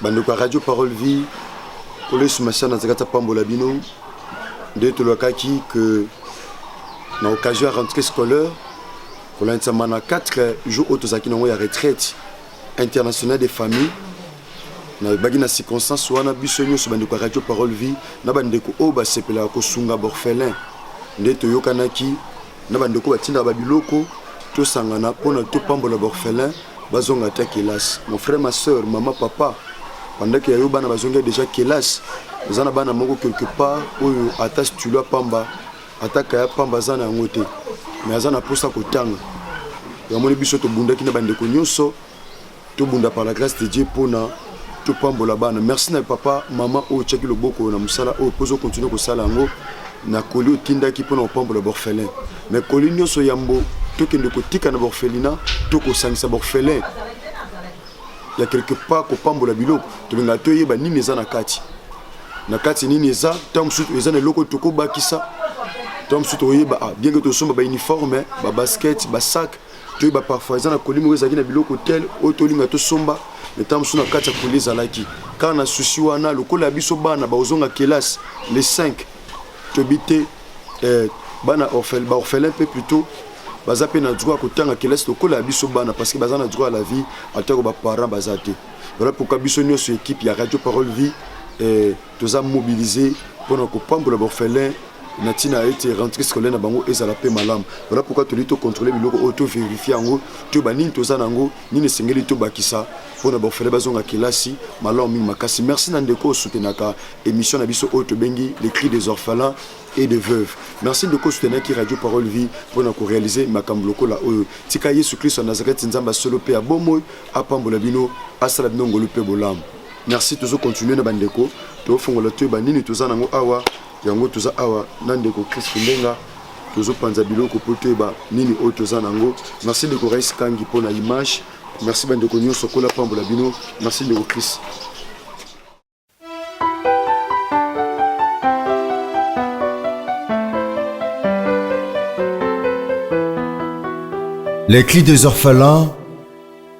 bandeko ya radio parole vie kolo yesu masiya na nzekati apambola bino nde tolakaki ke na occasion ya rentrée scolaire kolandisama na 4 jour oyo tozalaki nango ya retraite internationale des familles nayebaki na circonstance wana biso nyonso bandeko ya radio parole vie na bandeko oyo basepelaka kosunga borphelin nde toyokanaki na bandeko batindaka babiloko tosangana mpona topambola baorphelin bazonga ata kelasi mon frère ma soeur mama papa bandaki ya yo bana bazongi deja kelasi oza na bana moko quelque part oyo ata stulo ya pamba ata kaya pamba aza na yango te mais aza na mposa kotanga yamoni biso tobundaki na bandeko nyonso tobunda par la grâce de dieu mpona topambola bana merci na papa mama oyo otyaki loboko na mosala oyo mpo ozokontinue kosala yango na koli otindaki mpona kopambola borphelin mais koli nyonso yambo tokende kotika na borphelina to kosangisa borphelin ya quelque part kopambola biloko tolingaka toyeba nini eza na kati na kati nini eza ntango mosusu eza na eloko tokobakisa ntango mosusu tokoyeba ah, bien ke tosomba bauniforme babasket basak toyeba parfois eza na koli moko ezalaki na biloko tel oyo tolinga tosomba ntango mosusu na kati ya koli ezalaki kaka na susi wana lokola ya biso bana bakozonga kelasi le 5 toyebi te eh, bana baorphelin mpe plutôt baza mpe na droit ya kotanga kelasi lokola ya biso bana parce que baza na droit ya la vie atako baparent baza te voilà pourquoi biso nyonso équipe ya radio parole vie eh, toza mobilise mpo na kopambola baorphelin na ntina ete rentrée scolaire na bango ezala mpe malamu voilà pourquoi toli tocontrôle biloko oyo toverifie yango toyeba nini toza na yango nini esengeli tobakisa mpo na baorphelin bazonga kelasi malamu mingi makasi merci na ndeko osutenaka émission na biso oyo tobengi les cris des orphelins et de veuve merci ndeko osutenaki radio parole vie mpo na korealize makambo lokola oyo tika yesu kristo ya nazareti nzambe ya solo mpe ya bomoi apambola bino asala bino ngolu mpe bolamu merci tozo continuer na bandeko tofongola to yeba nini toza nango awa yango toza awa na ndeko chris ndenga tozopanza biloko mpo toyeba nini oyo toza nango merci ndeko rais kangi mpo na image merci bandeko nyonso kola pambola bino merci ndeko chris Les cris des orphelins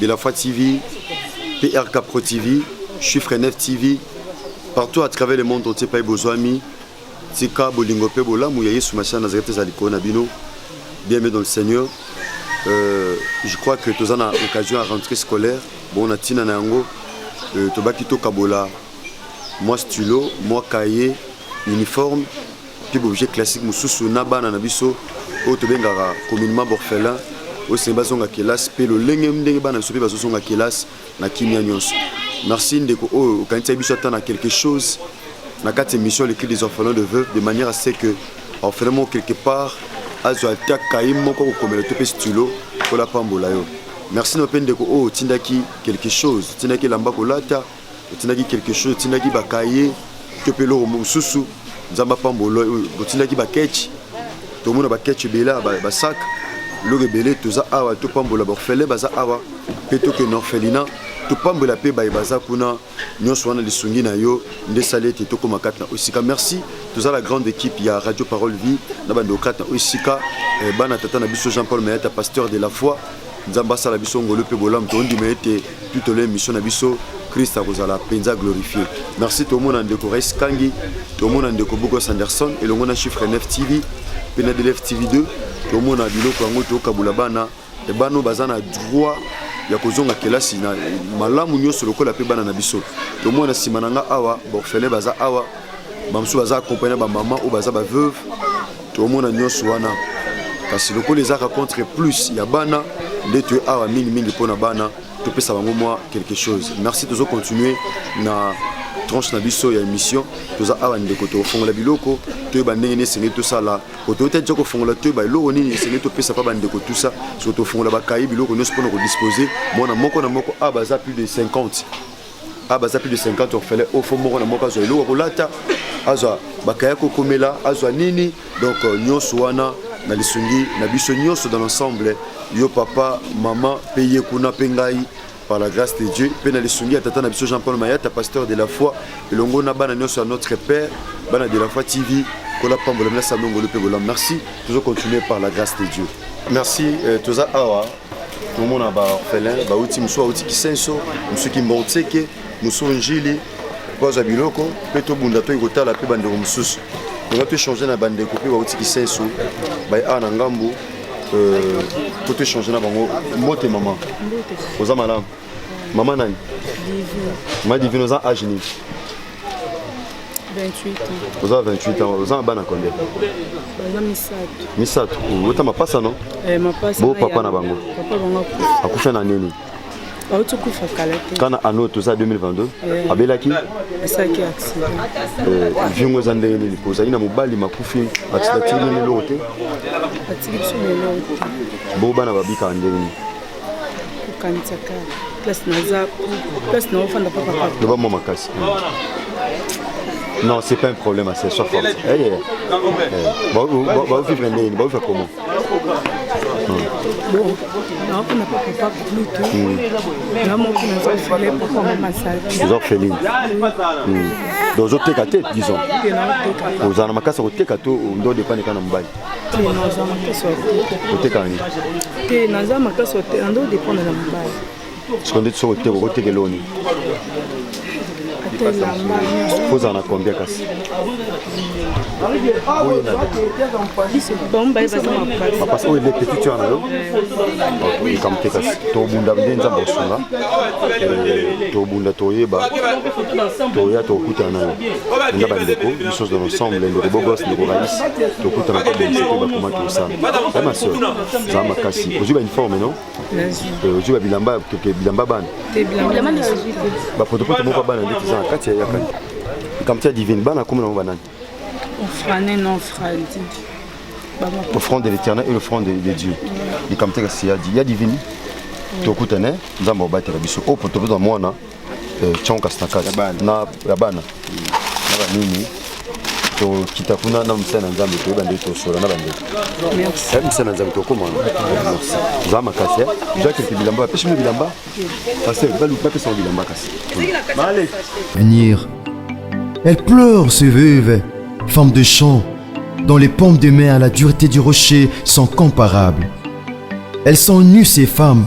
De la foi TV, PRK Pro TV, Chiffre 9 TV, partout à travers le monde entier, Paye Bozoami, Tika Bolingo Pe Bolamu, ya Yesu Machia Nazareth ezali kona bino. Bienvenue dans le Seigneur. Euh, je crois que tous en a occasion à rentrer scolaire. Bon, on a Tina Nango, euh, Tobakito Kabola, moi stylo, moi cahier, uniforme. tube objet classique mosusu na bana na biso oyo tobengaka communement borphelin oyo esengeli bazonga kelasi mpe lolenge ndenge bana biso mpe bazozonga kelasi na kimia nyonso merci ndeko oyo okanisaki biso ata na quelque chose na kati émission l'écrit des orphelins de veuve de manière à ce que orphelin moko quelque part azwa ata kaye moko kokomela to mpe stylo mpo lapambola yo merci na mpe ndeko oyo otindaki quelque chose otindaki elamba kolata otindaki quelque chose otindaki ba cahier to mpe eloko mosusu nzambe apambola otindaki ba ketch tomona ba ketch ebele ba sac eloko ebele toza awa topambola baorphelin baza awa mpe tokende orphelina topambola mpe baye baza kuna nyonso wana lisungi na yo nde esali ete tokóma kati na oyo esika merci toza la grande équipe ya radio parole vie na bandeko kati na oyo esika eh, bana tata na biso jean paul mayata pasteur de la foi nzambe asala biso ngolu mpe bolamu tondima ete tout au long émission na biso Christ akozala penza glorifié merci tomona ndeko Rais Kangi tomona ndeko Bogos Anderson elongo na chiffre 9 TV pe na DLF TV 2 tomona biloko yango tokabula bana e bano baza na droit ya kozonga kelasi na malamu nyonso lokola mpe bana na biso tomona nsima na nga awa baorphelin baza awa bamosusu baza accompagne na bamama oyo baza baveuve tomona nyonso wana kasi lokola ezaka contre plus ya bana nde toye awa mingimingi mpo na bana topesa bango mwa quelque chose merci tozo continue na tranche na biso ya émission toza awa ndeko tokofongola biloko toyeba ndenge nini esengeli tosala otoyota tya kofongola toyeba eloko nini esengeli topesa mpa bandeko tusa soki tofongola bakai biloko nyonso mpona kodispose mwana moko na moko awa baza plus de 50 a ah, baza plus de 50 orphelin au fond moko na moko azwa eloko kolata azwa bakaya kokomela azwa nini donc euh, nyonso wana na lisungi na biso nyonso dans l'ensemble yo papa mama mpe ye kuna mpe ngai par la grâce de dieu mpe na lisungi ya tata na biso jean paul mayata pasteur de la foi elongo na bana nyonso ya notre père bana de la foi tv kola pambola mila sanongolu mpe bolam merci tozo continuer par la grâce de dieu merci euh, toza awa tomona ba orphelin bauti mosusu auti kisenso mosusu kimborseke mosusu njili bazwa biloko mpe tobunda toki kotala mpe bandeko mosusu tonga toechange na bandeko mpe bauti kisenso baye awa na ngambo mpo euh, toechange na bango mbote mama oza malamu Maman nani? Divine. Ma Divine oza âge nini? 28 ans. Oza 28 ans, oza na bana combien? Baza misato. Misato. Ota mapasa non? Eh mapasa. Bo papa na bango. Papa bango akufa. Akufa na nini? auti kufa kala te kana ano toza 2022 eh. abelaki asalaki accident eh, vie yango eza ndenge nini po ozali na mobali makufi atiki nini eloko te atiki biso na eloko te bo bana babikaka ndenge nini okanisaka place naza place na ofanda papa loba mwa makasi non c'est pas un problème à sesoi forte baovivre ndeni baovivre comment nakuna papa papa pluto na moki naza ofele papa mama sali oza ofeline donc ozoteka te disons ozala na makasi ya koteka to ndo depane kaka na mobali naza makasi ya te oteka nini te naza makasi ya te ando dependre na mobali siko ndeti soki oteka okoteka eloni kozala na combien kasi bapasi oyo eleki tutu wana yo likambo te kasi tobunda nde nzambe kosunga tobunda toyeba toya tokutana nayo nga bandeko biso dans l'ensemble ndeko bogos ndeko rais tokutana mpe bonse mpe bakomaki kosala ya maseur zala makasi ozwi bauniforme no ozwi babilamba bilamba bana bapotopoto moko ya bana nde toza na kati ya yakani likambo tia divine bana akomi nango banani ofrane na ofradi offrande de l'éternel et l'offrande de dieu likambo tia kasi ya divine tokutane nzambe abatela biso oyo potopoto ya mwana eh, Chon Kastakati na ya bana na banini tokita kuna na mosala na nzambe toyeba nde tosola na bandeko eh, mosala na nzambe tokoma za makasi eh. jakete bilamba bapesi bino bilamba paster bapesa ngo bilamba kasi venir elle pleure se veuve femme de champ dans les pommes de mer la dureté du rocher sont comparables elles sont nues ces femmes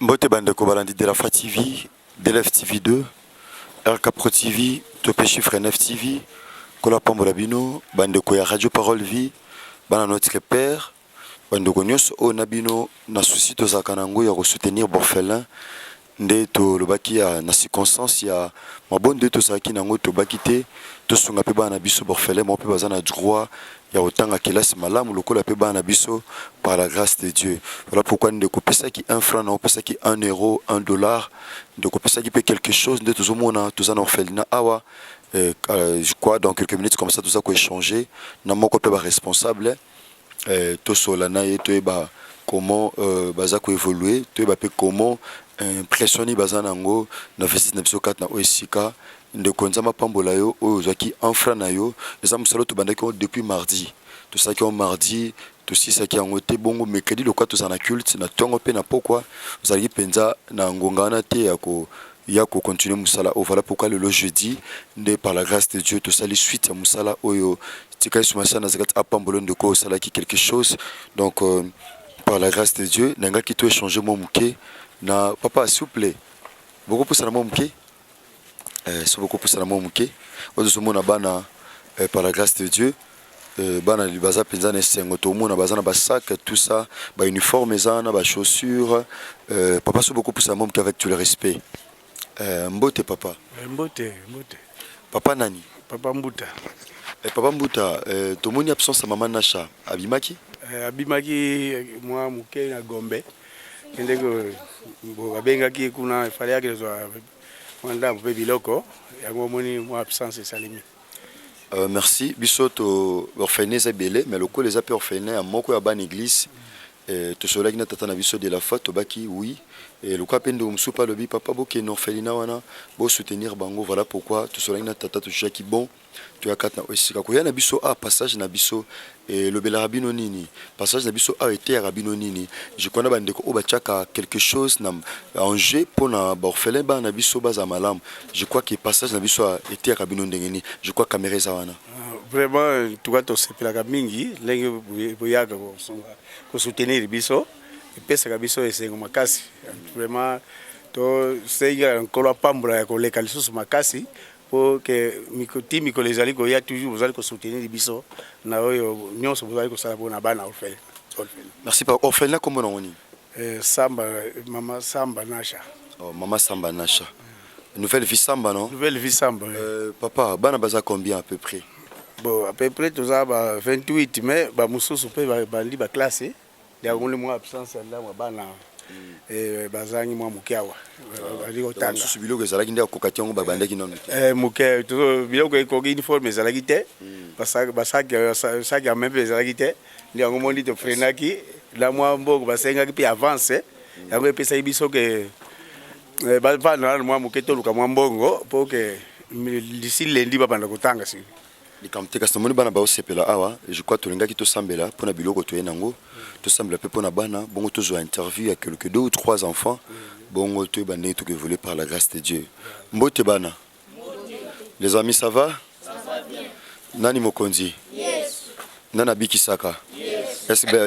Mbote bandeko balandi de la Fa TV, DLF TV 2, RK Pro TV, Tope Chiffre 9 TV, Kola Pambola Bino, bandeko ya Radio Parole Vie, bana notre père, bandeko nyonso oyo na bino na souci tozalaka na yango ya kosoutenir borphelin nde tolobaki ya na circonstance ya mabondo nde tozalaki na yango tobaki te tosunga mpe bana na biso borphelin moko mpe baza na droit ya kotanga kelasi malamu lokola pe bana na biso par la grace de Dieu. Voilà pourquoi ndeko opesaki 1 franc na opesaki 1 euro, 1 dollar, ndeko opesaki pe quelque chose nde tozomona toza na orphelinat awa euh, euh, je crois dans quelques minutes comme ça toza ko échanger na moko pe ba responsable euh, tosola na ye toyeba comment euh, baza ko évoluer toyeba pe comment impression nini baza nango na visite na biso kati na oyo esika Ndeko nzambe apambola yo oyo ozwaki enfra na yo eza mosala oyo tobandaki yango depuis mardi tosalaki yango mardi tosilisaki yango te bongo mercredi lokola tozala na culte na ntongo mpe na pokwa ozalaki mpenza na ngonga wana te ya ko ya kocontinue mosala oyo vala pourkui lelo jeudi nde par la grâce de dieu tosali suite ya mosala oyo tika yesu masiya nazareth apambolo ndeko osalaki quelque chose donc euh, par la grâce de dieu nangaki to échange mwa moke na papa souple bokopusana mwa moke eh, soki okopusana mwa moke oyo tozomona bana eh, par la grâce de dieu eh, bana baza mpenza na esengo tomona baza na basac tout ça bauniforme eza na bachaussure eh, papa soki okopusana mwa moke avec tout le respect eh, mbote papa eh, mbote mbote papa nani papa mbuta eh, papa mbuta eh, tomoni absence ya mama nasha abimaki eh, abimaki mwa moke na gombe ndenge babengaki ye kuna efale yaki nazwa mwa ndambo mpe biloko yango omoni mwa absence esalemi Uh, merci biso to orpheline eza ebele mais lokola eza mpe orpheline ya moko ya bana église eh, tosololaki na tata na biso de la foi tobaki oui eh, lokola mpe ndeko mosusu mpe alobi papa bokende orphelina wana bosoutenir bango voilà pourquoi tosololaki na tata tozwaki bon toya kati na esika koya na biso awa passage na biso elobelaka bino nini passage na biso awa eteyaka bino nini jikwa na bandeko oyo batiaka quelque chose na enjeu mpo na baorphelin bana na biso bazala malamu je crois ke passage na biso awa eteyaka bino ndenge nini je crois kamera eza wana ah, vraiment tuka tosepelaka mingi ndenge boyaka kosoutenir biso epesaka biso esengo makasi vraiment tosengi nkolo apambola ya koleka lisusu makasi po que miko ti mikolo ezali koya toujours bozali ko soutenir biso na oyo nyonso bozali kosala po na bana orphelin orphelin Merci papa. Orphelin kombo nango nini? Eh, samba mama samba nasha Oh, mama Samba Nasha. Nouvelle vie Samba non? nouvelle vie samba eh. Euh, papa, bana baza combien à peu près? bon à peu près toza ba 28 mais bamosusu mpe babandi baklasse Yango mwa absence ya ndamwa bana hmm. eh, bazangi mwa moke awa bazali kotanga mosusu biloko ezalaki nde akoka te yango babandaki nano eh, moke biloko ekoki uniforme ezalaki te hmm. basaki ya meme mpe ezalaki te nde yango moni tofrenaki na mwa mbongo basengaki mpe avance hmm. yango epesaki biso ke eh, bavanda nano mwa moke toluka mwa mbongo mpo ke lisi lendi babanda kotanga sili likambo te kasi namoni bana baosepela awa je crois tolingaki tosambela mpo na biloko toye nango tosambela mpe mpo na bana bongo tozwa interview ya quelque deux ou trois enfants bongo toyeba ndenge tokoevolue par la grâce de dieu mbote bana les amis ça va nani mokonzi nani abikisaka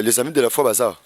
les amis de la foi baza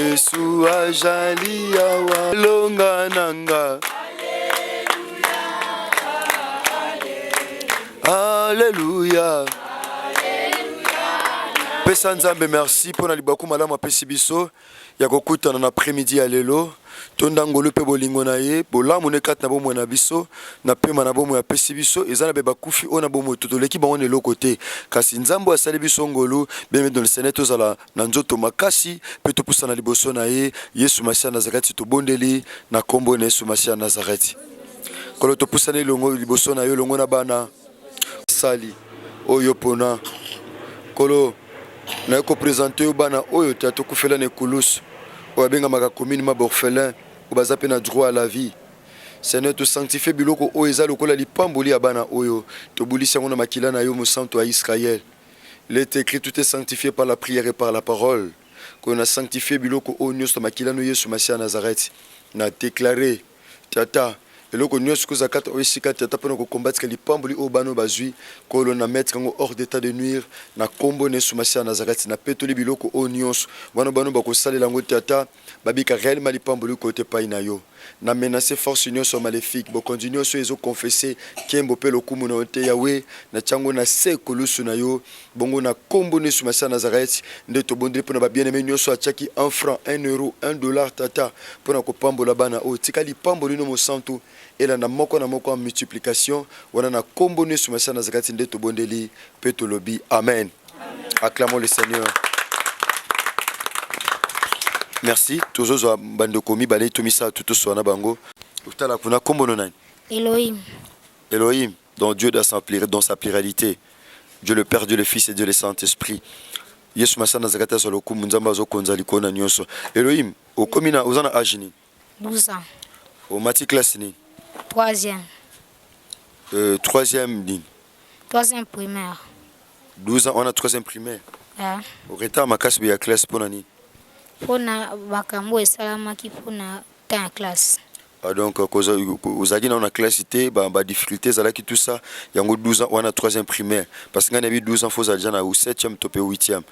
Yesu ajali awa longa nanga Alléluia Pesa Nzambe merci mpo na libaku malamu apesi biso ya kokutana na après-midi ya lelo tonda ngolu mpe bolingo na ye bolamu ne kati na bomoi na biso na pema na bomoi apesi biso eza na be bakufi oyo na bomoi to toleki bango na eloko te kasi nzambe asali biso ngolu bien dans le seigneur tozala na nzoto makasi mpe topusana liboso na ye yesu masiya nazareti tobondeli na nkombo na yesu masiya nazareti nkolo topusani elongo liboso na yo elongo na bana sali oyo pona nkolo naye kopresente yo bana oyo ta tokufela na ekulusu oyo abengamaka commune ma borphelin oyo baza mpe na droit à la vie seigneur tosanctifie biloko oyo eza lokola lipamboli ya bana oyo tobulisi yango na makila na yo mosantu ya israele Il est ecrit tout est sanctifier par la prière et par la parole que na sanctifier biloko oyo nyonso makila no Yesu Masiya Nazareth na declare tata eloko nyonso koza kata oyo esika tata pona ko combattre lipamboli oyo bano bazui kolo na mettre ngo hors d'état de nuire na kombo na Yesu Masiya Nazareth na petoli biloko oyo nyonso wana bano bakosalela ngo tata babika reellement lipamboli kota epai na yo na menace force nionso ya malefique bokonzi nionso oyo ezo confesse kembo pe lokumu na yo te yawe na tiango na se ekulusu na yo bongo na kombo nesu masiya nazareth nde tobondeli pona ba bien aime nionso atiaki un franc un euro un dollar tata pona kopambola bana oyo tika lipamboli no mosantu elanda moko na moko en multiplication wana na kombo nesu masiya nazareth nde tobondeli pe tolobi amen Acclamons le Seigneur. Merci. Tozozwa bandeko mibale to misato toswana bango. Otala kuna kombo no nani? Elohim. Elohim, dont Dieu dans sa, dans sa pluralité. Dieu le Père, Dieu le Fils et Dieu le Saint-Esprit. Yesu masana zakata solo kumu nzamba zo konza likona nyoso. Elohim, okomina ozana ajini. 12 ans. Omati classe nini? Troisième. Euh, troisième nini? Troisième primaire. 12 ans wana troisième primaire? Yeah. Retard makasi ya classe mpo na nini? Mpo na makambo oyo esalamaki mpo na temps ya classe. Ah, donc ozalaki nao na classe te badifficulté ezalaki tout ça yango 12 ans wana troisième primaire parce que ngai nayebi 12 ans fo ozala deja na 7e to mpe 8e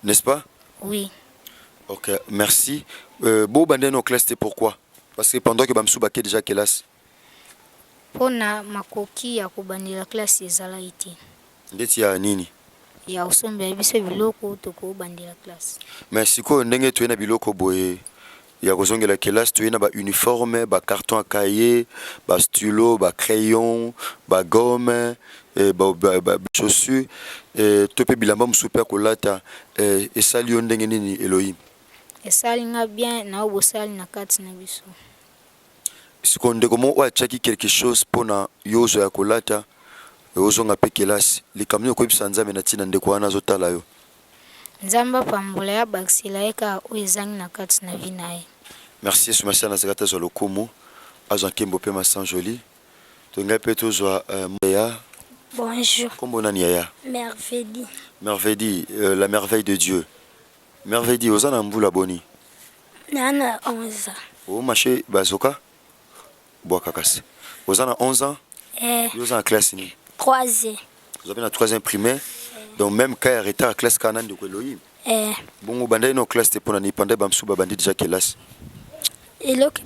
n'est-ce pas oui ok merci euh, bo bande no classe te pourquoi parce que pendant que bamsu bake déjà classe mpo na makoki ya kobandela classe ezalaki te ndeti ya nini ya kosombela biso biloko tokobandela classe mais sikoyo ndenge toye na biloko boye ya kozongela kelasi toye na ba uniforme ba carton ya cahier ba stylo ba crayon ba gomme eh, ba, ba, ba chaussure eh, to mpe bilamba mosusu mpe ya kolata eh, esali yo ndenge nini elohim esali nga bien na oyo bosali na kati na biso sikoyo ndeko moko oyo atyaki quelque chose mpo na yo ozwa ya kolata ozonga mpe kelasi likambo nini okoyebisa nzambe na ntina ndeko wana azotala yo Nzambe apambola ye abakisela ye kaka oyo ezangi na kati na vie naye. Merci yesu masiya nazaka te azwa lokumu azwa nkembo pe ma sans joli to ngai pe tozwa yaya. Bonjour. Kombo nani yaya? Mervedi. Mervedi la merveille de Dieu mervedi oza na mbula boni? Naza na 11 ans. O mache bazoka? Bwaka kasi. Oza na 11 ans? Eh. Yo oza na classe nini? 3e. Oza pe na 3e primaire? Eh. Donc même cas ya retard classe ka na ndeko Elohim? Eh. Bongo bandaki no classe te pona ni panda ba msuba bandi déjà kelasi. Eloko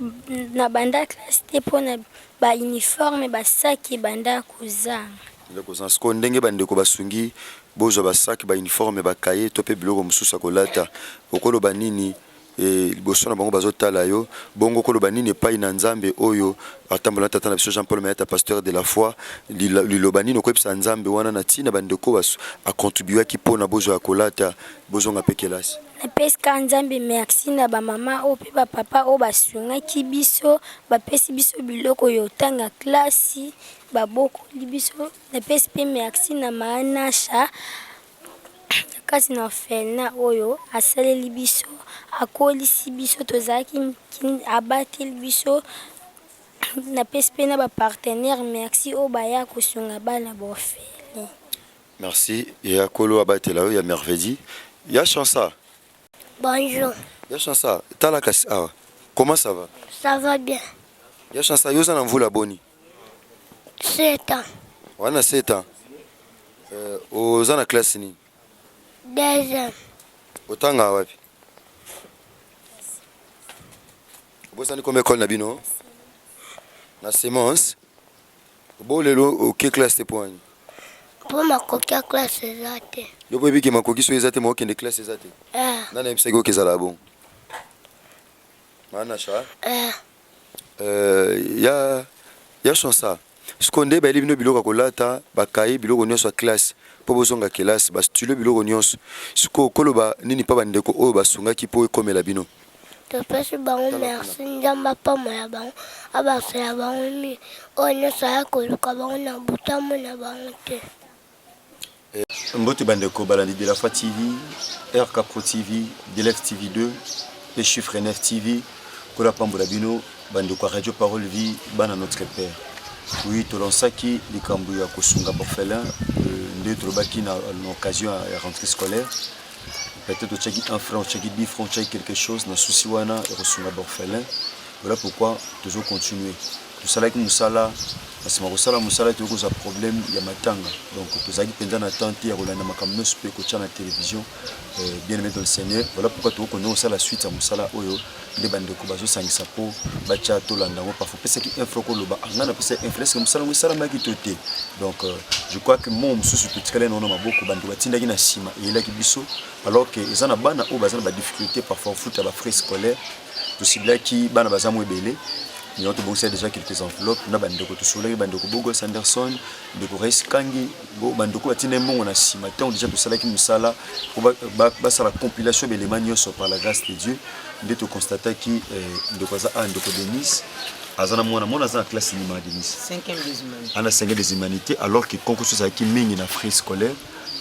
na banda classe te pona ba uniforme ba sac banda kozanga. Banda kozanga. Siko ndenge ba ndeko basungi bozwa ba sac ba uniforme ba cahier to pe biloko mosusu ya kolata. Okoloba nini? e liboso na bango bazotala yo bongo koloba nini epai na nzambe oyo atambola na tata na biso jean paul mayata pasteur de la foi liloba nini okoyebisa nzambe wana na ntina bandeko baso acontribuaki mpo na bozwa ya kolata bozonga mpe kelasi napesika nzambe merci na bamama oyo mpe bapapa oyo basungaki biso bapesi biso biloko ya otanga klasi babokoli biso napesi mpe merci na maanasha Kasi na orphelinat oyo asaleli biso, akolisi biso, tozalaki abateli biso napesi mpe na ba partenaire merci oyo baya kosunga bana ba orphelin. Merci ya kolo abatela yo ya mervedi ya chansa. Bonjour. Ya chansa tala kasi awa comment ça va? Ça va bien. Ya chansa yo oza na mvula boni? 7 ans. Oza na 7 ans. Euh, oza na classe nini? Deuxième. Otanga wapi? Obosani koma école na bino? Na semence. Bo lelo oke classe te poani. Mpo makoki ya classe eza te. Yo po ebiki makoki so eza te mo okende classe eza te. Eh. Nani ayebisaki oke ezala bongo? Maana sha? Eh. Euh, ya ya chansa sikoyo nde bayeli bino biloko ya kolata bakaye biloko nyonso ya classe mpo bozonga kelasi bastylo biloko nyonso sikoyo koloba nini mpa bandeko oyo basungaki mpo ekomela bino topesi bango merci nzambe apambola bango abasela bango nini oyo nyonso aya koluka bango na botamo na bango te Mbote bandeko balandi Delafa TV, RK Pro TV, Delef TV 2 pe Chiffre 9 TV. Kola pambola bino bandeko ya Radio Parole Vie, bana notre père. Oui, tolonsaki likambo ya kosunga borphelin euh, nde tolobaki na occasion ya rentrée scolaire. Peut-être otiaki un franc, otiaki 10 francs, otiaki quelque chose na souci wana ya kosunga borphelin. Voilà pourquoi tozo continuer. Tosalaki mosala, na nsima ya kosala mosala toyei kozwa problème ya matanga, donc tozalaki mpenza na temps te ya kolanda makambo nyonso mpe kotya na television. Euh, bien aimé dans le Seigneur, voilà pourquoi toko konde kosala suite ya mosala oyo nde bandeko bazosangisa mpo batya tolanda yango parfois opesaki info okoloba anga ah, napesa info eske mosala yango esalamaki to te donc euh, je crois que mo mosusu totikali na wana maboko bandeko batindaki na nsima eyelaki biso alors que eza na bana oyo baza na badifficulté parfois ofuta bafrais scolaire tosibilaki bana baza mwa ebele yango tobongisa déjà quelques enveloppes na bandeko tosololaki bandeko bogos anderson ndeko rais kangi bandeko batinda mbongo na nsima ntango déjà tosalaki mosala po basala compilation belema nyonso par la grâce de dieu nde toconstataki eh, ndeko aza a ah, ndeko denise aza na mwana mwana aza na classe nima denise ana 5 des humanités alors que concours ezalaki mingi na frais scolaire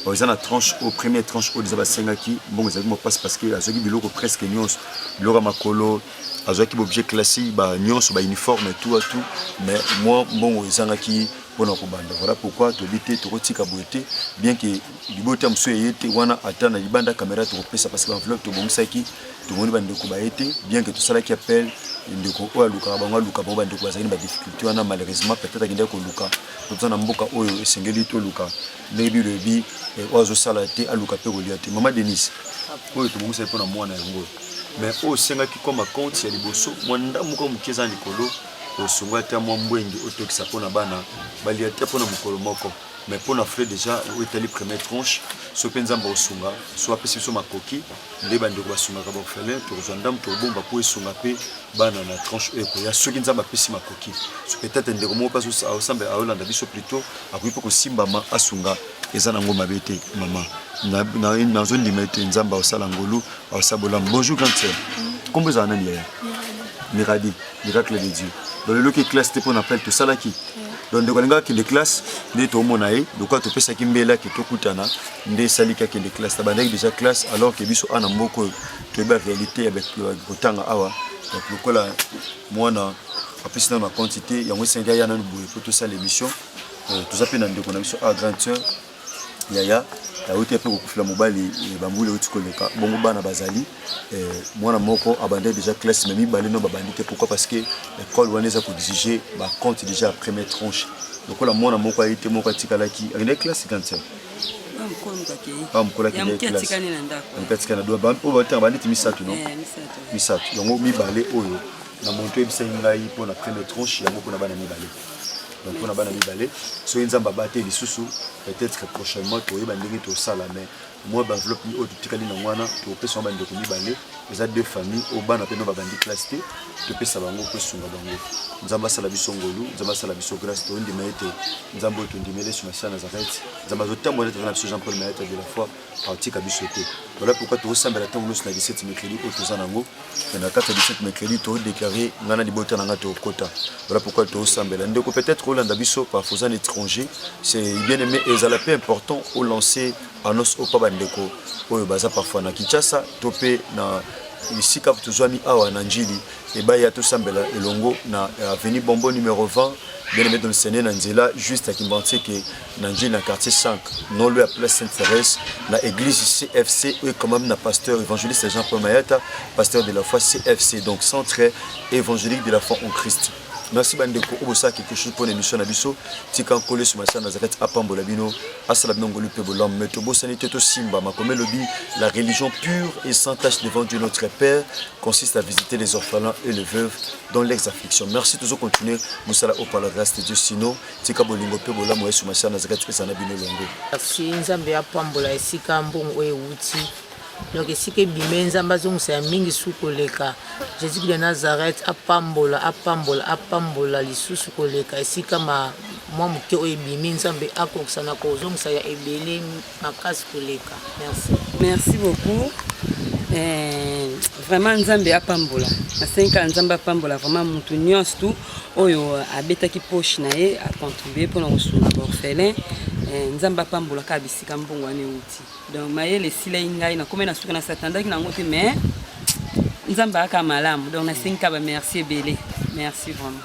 oh, eza na tranche oyo première tranche oyo deja basengaki mbongo ezalaki mopasi parce que azwaki biloko presque nyonso biloko ya makolo azwaki baobjet classique ba nyonso ba uniforme tout à tout mais mwa mbongo ezangaki mpona kobanda voilà pourquoi toyebi te tokotika boye te bien que libota mosusu eye te wana ata na libanda caméra tokopesa parce que enveloppe tobongisaki tomoni bandeko baye te bien que tosalaki appel ndeko oyo alukaka bango aluka bango bandeko bazali na badifficulté wana malheureusement peut-être akendaki koluka toza na mboka oyo esengeli toluka ndenge biblia elobi eh, oyo azosala te aluka mpe kolia te mama denise oyo tobongisaki mpo na mwana yango mais oyo osengaki koma compte ya liboso mwa ndambo moko moke eza likolo osunga ata mwa mbwengi otokisa mpo na bana balia te mpo na mokolo moko mais mpo na frais déjà oyo etali première tranche so mpe nzambe osunga so apesi biso makoki nde bandeko basungaka baorphelin tokozwa ndambo tokobomba mpo esunga mpe bana na tranche oyo ekoya soki nzambe apesi makoki peut-être ndeko moko mpe aosambela aolanda biso plutôt akoki mpe kosimbama asunga eza nango mabe te mama nazondima ete nzambe aosala ngolu aosala bolamu bonjour grande sœur nkombo ezala nani yaya miradi miracle de dieu donc lelo ke classe te mpo na appel tosalaki donc ndeko alingaki akende classe nde toomona ye lokola topesaki mbela ke tokutana nde esaliki akende classe tabandaki déjà classe alors ke biso ana mboka oyo toyeba réalité ya kotanga awa donc lokola mwana apesi nano na compte te yango esengeli aya nano boye mpo tosala émission euh, toza mpe na ndeko na biso a grande sœur yaya awuti mpe kokufela mobali eh, bambula euti koleka bongo bana bazali eh, mwana moko abandai déjà classe mais mibale no babandi te pourquoi parce que école wana eza koexige bacompte déjà ya première tranche lokola mwana moko aye te moko atikalaki akendaki classe kantia bamokolo akendakilasiatikana do oyo batanga bandeti misato no eh, misato yango mibale oyo na monto oyebisaki ngai mpo na première tranche yango mpo na bana mibale donc mpona bana mibale soki nzambe abateli lisusu peut-être prochainement toyeba ndenge tosala mais mwa baenveloppe oyo totikali na wana topesa yango bandeko mibale eza deux famille oyo bana mpe no babandi classe te topesa bango mpo esunga bango nzambe asala biso ngolu nzambe asala biso grâce tondima ete nzambe oyo tondimeli esu masiana zarete nzambe azotambola ete aza na biso jean paul mayata de la foi akotika biso te voilà pourquoi tokosambela ntango nyonso na 17 mercredi oyo toza nango e na kati ya 17 mercredi todeklare ngai na libota na ngai tokokota voilà pourquoi tokosambela ndeko peut-être olanda biso parfois oza na étranger c'est bien aimé ezala mpe important olancer annonce oyo mpa bandeko oyo baza parfois na kinshasa to mpe na esika tozwami awa na njili ebai ya tosambela elongo na avenue bombo numero 20 bien aimé dolsene na nzela juste ya kimbanseke na njili na quartier 5 nolo ya place sainte therese na église cfc oyo ekamami na pasteur évangéliste jean paul mayata pasteur de la foi cfc donc centre évangélique de la foi en christ merci bandeko oyo bosala quelque chose mpo na émission na biso tika nkolo yesu masala na zakati apambola bino asala bino ngolu mpe bolamu me tobosani te tosimba makomi elobi la religion pure et sans tache devant dieu notre père consiste à visiter les orphelins et les veuves dans leurs afflictions merci tozo continuer mosala oyo par la grâce de dieu sinon tika bolingo mpe bolamu ya yesu masiya nazaka tikesa na bino elongo merci nzambe apambola esika mbongo oyo ewuti donc esika ebime nzambe azongisa ya mingi su koleka jésus de nazareth apambola apambola apambola lisusu koleka esika ma mwa moke oyo ebimi nzambe akokisa na kozongisa ya ebele makasi koleka merci merci beaucoup eh, vraiment nzambe apambola na senka nzambe apambola vraiment mutu nyonso tu oyo abetaki poche na ye acontribue mpona kosunga baorphelin eh, nzambe apambola kaka bisika mbongo wana euti donc mayele esilai ngai nakomai na suka nasatandaki na yango te mais nzambe ayaka malamu donc nasengi ka bamerci ebele merci vraiment